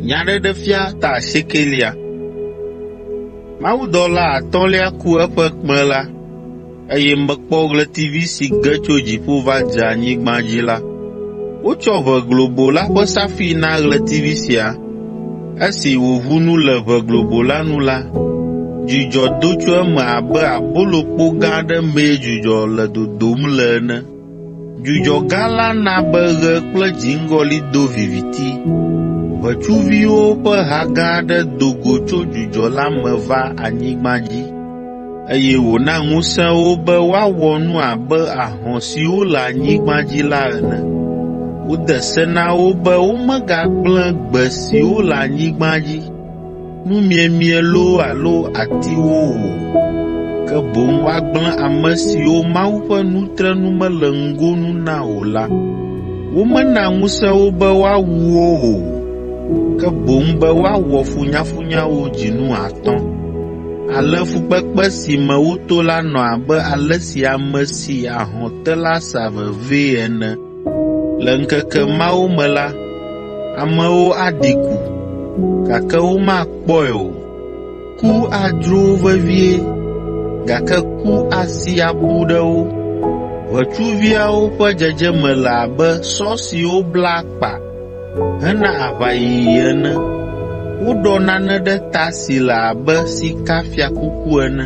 Nyaɖeɖefia ta asiekɛlia. Mawudɔla atɔ̃lia ku eƒe kpẽ la, eye mekpɔ ɣletivi si ge tso dziƒo va dze anyigba dzi la. Wotsɔ ʋe globo la ƒe safi na ɣletivi sia. Esi wòʋu nu le ʋe globo la nu la, dzudzɔ do tso eme abe abolokpo gã aɖe mee dzudzɔ le dodom le ene. Dzudzɔ gã la na be ɣe kple dziŋgɔli do viviti. Ʋetsuviwo ƒe ha gã aɖe do go tso dzudzɔ la me va anyigba dzi, eye wòna ŋusẽ wo be woawɔ nu abe ahɔ̃ siwo le anyigba dzi la ene. Wode se na wo be womegagblẽ gbe siwo le anyigba dzi. nu miemie loo alo atiwo o, ke boŋ woagblẽ ame siwo Mawu ƒe nu tre nu mele ŋgonu na o la. Womena ŋusẽ wo be woawu wo o, ke boŋ be woawɔ funyafunyawo dzinu atɔ̃. Ale fukpekpe si me woto la nɔ abe ale si ame si ahɔ̃ te la sa vevee ene. Le ŋkeke mawo me la, amewo aɖi ku, gake womakpɔe o. Ku adzro wo vevie, gake ku asi aƒu ɖe wo. Ʋetsuviawo ƒe dzedzeme le abe sɔ siwo bla akpa hena aʋayiyi ene. Woɖɔ nane ɖe ta si le abe sikafiakuku ene.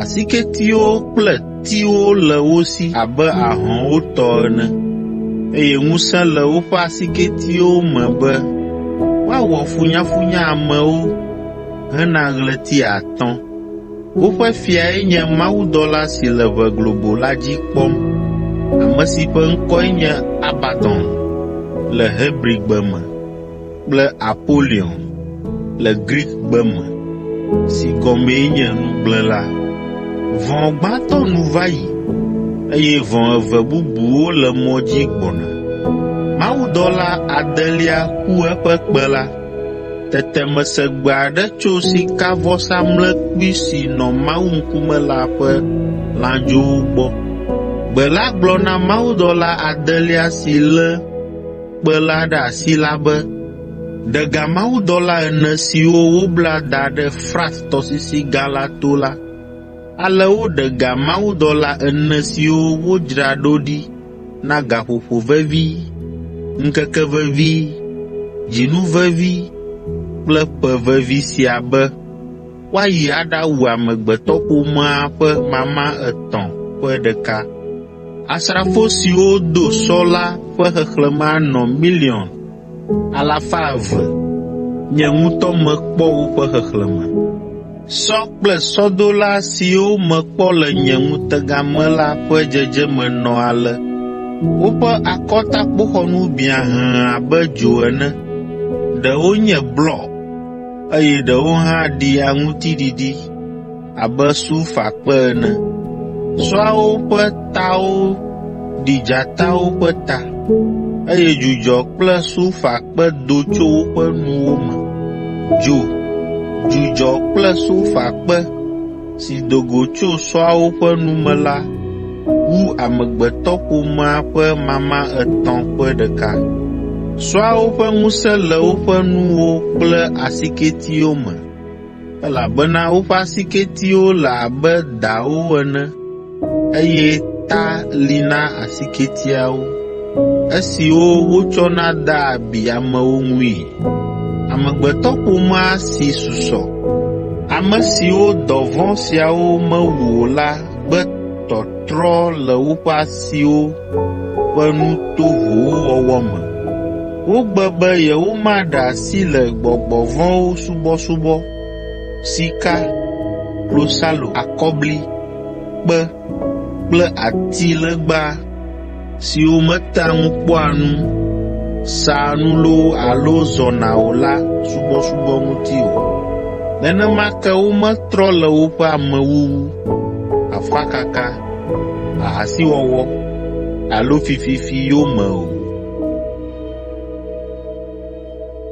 Asiketiwo kple tiwo le wo si abe ahɔ̃wo tɔ ene, eye ŋusẽ le woƒe asiketiwo me be woawɔ funyafunya amewo hena ɣleti atɔ̃. Woƒe fiae nye mawudɔla si le ʋe globo la dzi kpɔm, ame si ƒe ŋkɔe nye Abadon le Hebrigbe me. kple Apolion le Grikgbe me, si gɔmee nye Nugblẽla. Vɔ̃ gbãtɔ nu va yi, eye vɔ̃ eve bubuwo le mɔ dzi gbɔna. Mawudɔla adelia ku eƒe kpe la. Tete mese gbe aɖe tso sikavɔsamlekpui si nɔ Mawu ŋkume la ƒe lãdzowo gbɔ. Gbe la gblɔ na mawudɔla adelia si lé kpe la ɖe asi la be ɖe ga mawudɔla ene siwo wobla da ɖe Frat tɔsisi gã la to la, ale woɖe ga mawudɔla ene siwo wodzra ɖo ɖi na gaƒoƒo vevi, ŋkeke vevi, dzinu vevi kple ƒe vevi sia be woayi aɖawu amegbetɔƒomea ƒe mama etɔ̃ ƒe ɖeka. Asrafo siwo do sɔ la ƒe xexlẽme anɔ miliɔn alafa eve. Nye ŋutɔ mekpɔ woƒe xexlẽme. Sɔ kple sɔdola siwo mekpɔ le nye ŋutega me la ƒe dzedzeme nɔ ale: Woƒe akɔtakpoxɔnu biã hẽ abe dzo ene, ɖewo nye blɔ, eye ɖewo hã ɖi aŋuti ɖiɖi. abe sulfakpe ene. Sɔawo ƒe tawo ɖi dzatawo ƒe ta, eye dzudzɔ kple sulfakpe do tso woƒe nuwo me. Dzo, dzudzɔ kple sulfakpe si do go tso sɔawo ƒe nu me la wu amegbetɔƒomea ƒe mama etɔ̃ ƒe ɖeka. Sɔawo ƒe ŋusẽ le woƒe nuwo kple asiketiwo me. elabena woƒe asiketiwo le abe dawo ene, eye ta li na asiketiawo, esiwo wotsɔna dea abi amewo ŋui. Amegbetɔƒomea si susɔ, ame siwo dɔ vɔ̃ siawo mewu o la gbe tɔtrɔ le woƒe asiwo ƒe nu tovowo wɔwɔ me. Wogbe be yewomaɖe asi le gbɔgbɔ vɔ̃wo subɔsubɔ, sika, klosalo, akɔbli, kpe kple atilegba siwo metea ŋu kpɔa nu, saa nu loo alo zɔna o la subɔsubɔ ŋuti o. Nenema ke wometrɔ le woƒe amewuwu, afakaka, ahasiwɔwɔ alo fififi yome o.